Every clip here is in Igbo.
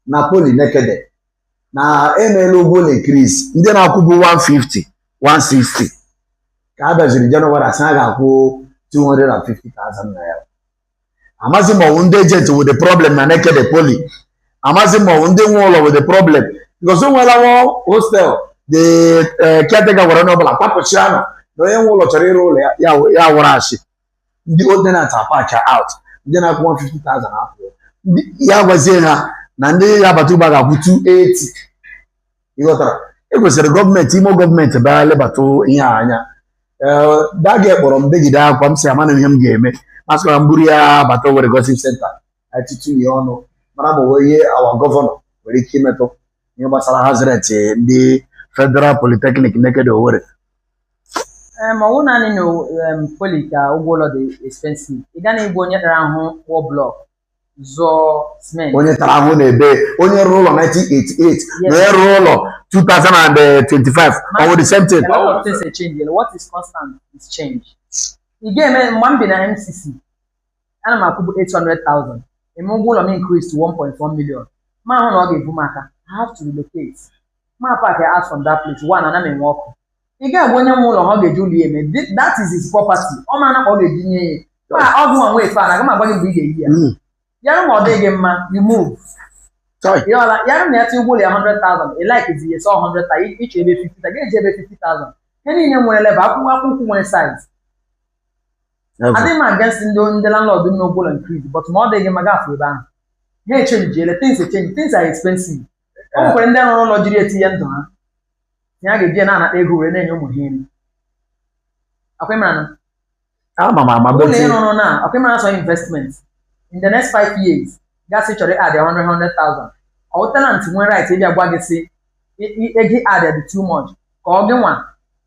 na poli nekede na emeela ụgwọ ụlọ increase ndị na-akwụbu 150 160 ka a bịaziri January asị a ga-akwụ 250,000 naira amazi m ma ọ wụ ndị agent wụ the problem na nekede poli amazi m ma ọ wụ ndị nwe ụlọ wụ the problem because o nweela nwa hostel the eh, caretaker gwara onye ọbụla kwapụchianụ na onye nwe ụlọ chọrọ ịrụ ụlọ ya ya wụrụ ashị ndị old tenant apacha out ndị na-akwụ 150,000 apụ ya gwazie ha na ndị ga-abata ugbua ga-akwụ 280 ịghọtara e kwesịrị gọọmenti imo gọọmenti bịa lebata ihe a anya ee daga kpọrọ m begide akwa m sị amana ihe m ga-eme m sị ka m buru ya bata Owerri Gossip Center atụtụ ya ọnụ mara ma o nwe ihe our governor nwere ike imetụ ihe gbasara house rent ndị federal polytechnic nekede Owerri ma ọ bụ naanị na poli ka ụgwọ ụlọ dị expensive ị gaghị ịbụ onye tara ahụ kpụọ blọk zụọ cement onye tara ahụ na-ebe onye rụrụ ụlọ 1988 na onye rụrụ ụlọ 2025 ọ bụ the same thing a lot of things are changing what is constant is change ị ga-eme mgbe m bi na MCC ana m akwụbu 800,000 e mee ụgwọ ụlọ m increase to 1.1 million m ahụ na ọ ga-ebu m aka I have to relocate ma park ya out from that place one ana m enwe ọkụ ị ga-agwa onye nwe ụlọ ha ọ ga-eji ụlọ ya eme Th- that is his property ọ ma na ka ọ ga-eji nye ya ma ọ gị nwa nwe efe aga m agwa gị mgbe ị ga-eyi ya Mm. ya wụrụ ma ọ dịghị gị mma you move Chai. ị ọla ya na ya tinye ụgwọ ụlọ ya 100,000 ị like zi ya sọ 100,000 ị chọọ ebe 50,000 ga-eji ebe 50,000 ihe niile nwere level akpụkpọ ụkwụ nwere size Ever. adịghị m against ndị ndị landlord n'ụgwọ ụlọ increase but ma ọ dịghị mma gafee ebe ahụ ha echenjiele things echenji things are expensive o nwekwara ndị rụrụ ụlọ jiri etinye ndụ ha na ya ga-eji na-anata ego were na-enye ụmụ ha nri akwemana ama m ama ụlọ beti ịrụrụ na akwemana sọ investment in the next five years gị asị ị chọrọ ị-add 100,000 ọ tenant nwere right ịbịa gwa gị sị "I- i- ego ị add dị too much ka ọ gị nwa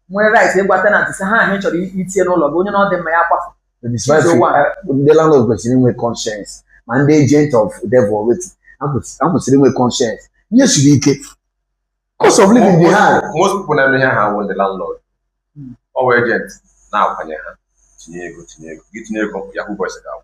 nwere right ịgwa tenant sị ha ahụ ị chọrọ i- itinye n'ụlọ gị onye na ọ dị mma ya kwafụ That is why She's the we- one. eh, ndị landlord kwesịrị inwe conscience ma ndị agent of devil already ha kwesị- ha kwesịrị inwe conscience ihe siri ike cost of living dị high most people na-eme ihe a bụ ndị landlord Mm. ọ bụ agent na-akwanye ha tinye ego tinye ego gị tinye ego yahoo boys ga-akwụ